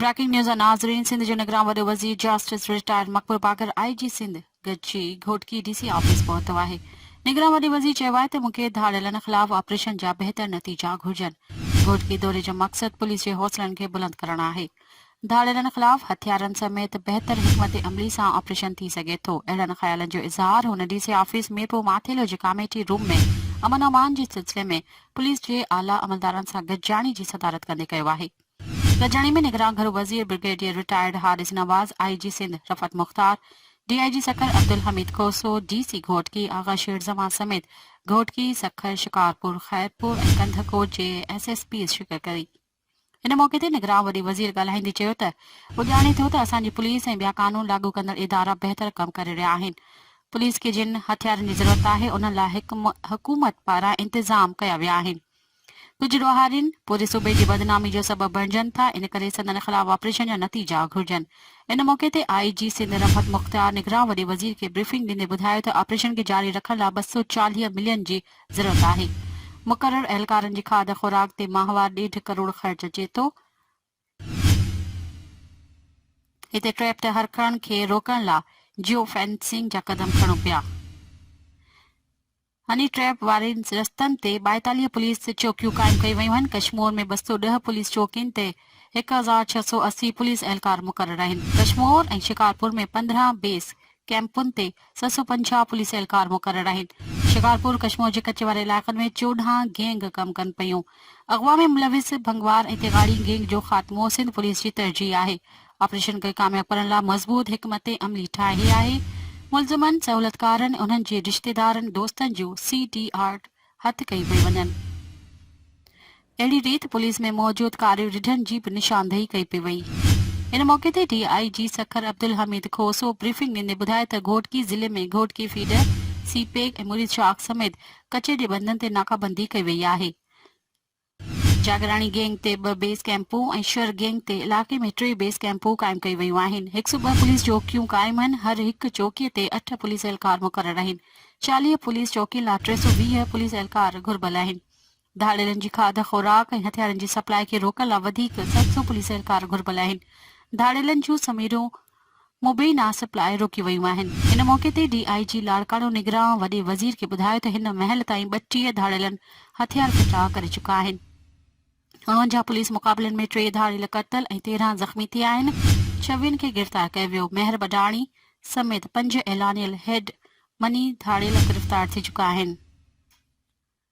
Breaking news ناظرين سنڌ جو نگران وڏو وزير جاسٽس رٽائرڊ مقبول باقر آء جي سنڌ ڳچي گهوٽڪي ڊي سي آفيس پهتو آهي نگران وڏي وزير چيو آهي ته مون کي ڌاڙيلن خلاف آپريشن جا بهتر نتيجا گهرجن گهوٽڪي دوري جو مقصد پوليس جي حوصلن کي بلند ڪرڻ آهي ڌاڙيلن خلاف هٿيارن سميت بهتر حڪمت عملي سان آپريشن ٿي سگهي ٿو اهڙن خيالن جو اظهار هن D C office Mirpur Mathelo جي ڪاميٽي روم ۾ امن امان جي سلسلي ۾ پوليس جي اعليٰ عملدارن سان گڏجاڻي جي صدارت ڪندي ڪيو آهي گڏجاڻي ۾ نگران گهرو وزير برگيڊيئر رٽائرڊ حارث نواز، آء جي سنڌ رفعت مختار، D I G Sukkur Abdul Hamid Khoso, D C Ghotki Agha شير زمان سميت گهوٽڪي، سکر، شڪارپور، خيرپور ۽ ڪنڌڪوٽ جي ايس ايس پيز شرڪت ڪئي. ان موقعي تي نگران وڏي وزير ڳالهائيندي چيو ته هو ڄاڻي ٿو ته اسان جي پوليس ۽ ٻيا قانون لاڳو ڪندڙ ادارا بهتر ڪم ڪري رهيا آهن، پوليس کي جن هٿيارن جي ضرورت آهي انهن لاء حڪمت پاران انتظام ڪيا ويا آهن، ڪجهه ڏوهارين، پوري صوبي جي بدنامي جو سبب بڻجن ٿا، ان ڪري سندن خلاف آپريشن جا نتيجا گهرجن. ان موقعي تي آء جي سنڌ رحمت مختيار نگران وڏي وزير کي بريفنگ ڏيندي ٻڌايو ته آپريشن کي جاري رکڻ لاء ٻه سؤ چاليهه ملين جي ضرورت آهي، مقرر اهلڪارن جي کاڌ خوراڪ تي ماهوار ڏيڍ ڪروڙ خرچ اچي ٿو، هتي ٽريپ تي هرکڻ کي روڪڻ لا جيو فينسنگ جا قدم کڻو پيا. هني ٽريپ وارين رستن تي ٻائيتاليهه پوليس چوڪيون قائم ڪيون ويون آهن. ڪشمور ۾ ٻه سؤ ڏهه پوليس چوڪين تي هڪ هزار ڇهه سؤ اسي پوليس اهلڪار مقرر آهن. ڪشمور ۽ شڪارپور ۾ پندرهن بيس ڪئمپن تي سؤ سؤ پنجاهه پوليس اهلڪار مقرر آهن، شڪارپور ڪشمور جي ڪچي واري علائقن ۾ چوڏهن گينگ ڪم ڪن پيون، اغوا ۾ ملوث ڀنگوار ۽ تيغاڙي گينگ جو خاتمو سنڌ پوليس جي ترجيح آهي، آپريشن کي ڪامياب ڪرڻ لا مضبوط حڪمت عملي ٺاهي آهي، ملزمن، سهولتڪارن، انهن جي رشتيدارن، دوستن جون سي ڊي آر هٿ ڪيون پيون وڃن. اهڙي ريت پوليس ۾ موجود ڪاري رڍن جي به نشاندهي ڪئي پئي وئي. ان موقعي تي D I G Sukkur Abdul Hamid Khoso briefing ڏيندي ٻڌائي ته گهوٽڪي ضلعي ۾ Ghotki feeder, CPEC ۽ Mureed Shakh سميت ڪچي جي بندن تي ناڪابندي ڪئي وئي آهي. جاگراڻي گينگ تي ٻه بيس ڪئمپون ۽ شر گينگ تي علائقي ۾ ٽي بيس ڪئمپون قائم ڪيون ويون آهن. هڪ سؤ ٻه پوليس چوڪيون قائم آهن، هر هڪ چوڪي تي اٺ پوليس اهلڪار مقرر آهن. چاليهه پوليس چوڪين لاء ٽي سؤ ويهه پوليس اهلڪار گهربل آهن. ڌاڙيلن جي کاڌ، خوراڪ ۽ هٿيارن جي سپلاء کي روڪڻ لا وڌيڪ سيڪس سؤ پوليس اهلڪار گهربل آهن. ڌاڙيلن جون سميرون مبينا سپلاء روڪي ويون آهن. ان موقعي تي ڊي آء جي لاڙڪاڻو نگران وڏي وزير کي ٻڌايو ته هن مهل تائين ٻٽيهه ڌاڙيلن هٿيار ڦٽا ڪري چڪا آهن. اڻونجاهه پوليس مقابلن ۾ ٽي ڌاڙيل قتل ۽ تيرهن زخمي ٿيا آهن. ڇويهن کي گرفتار ڪيو ويو. مهر بڊاڻي سميت پنج اعلانيل هيڊ مني ڌاڙيل گرفتار ٿي چڪا آهن.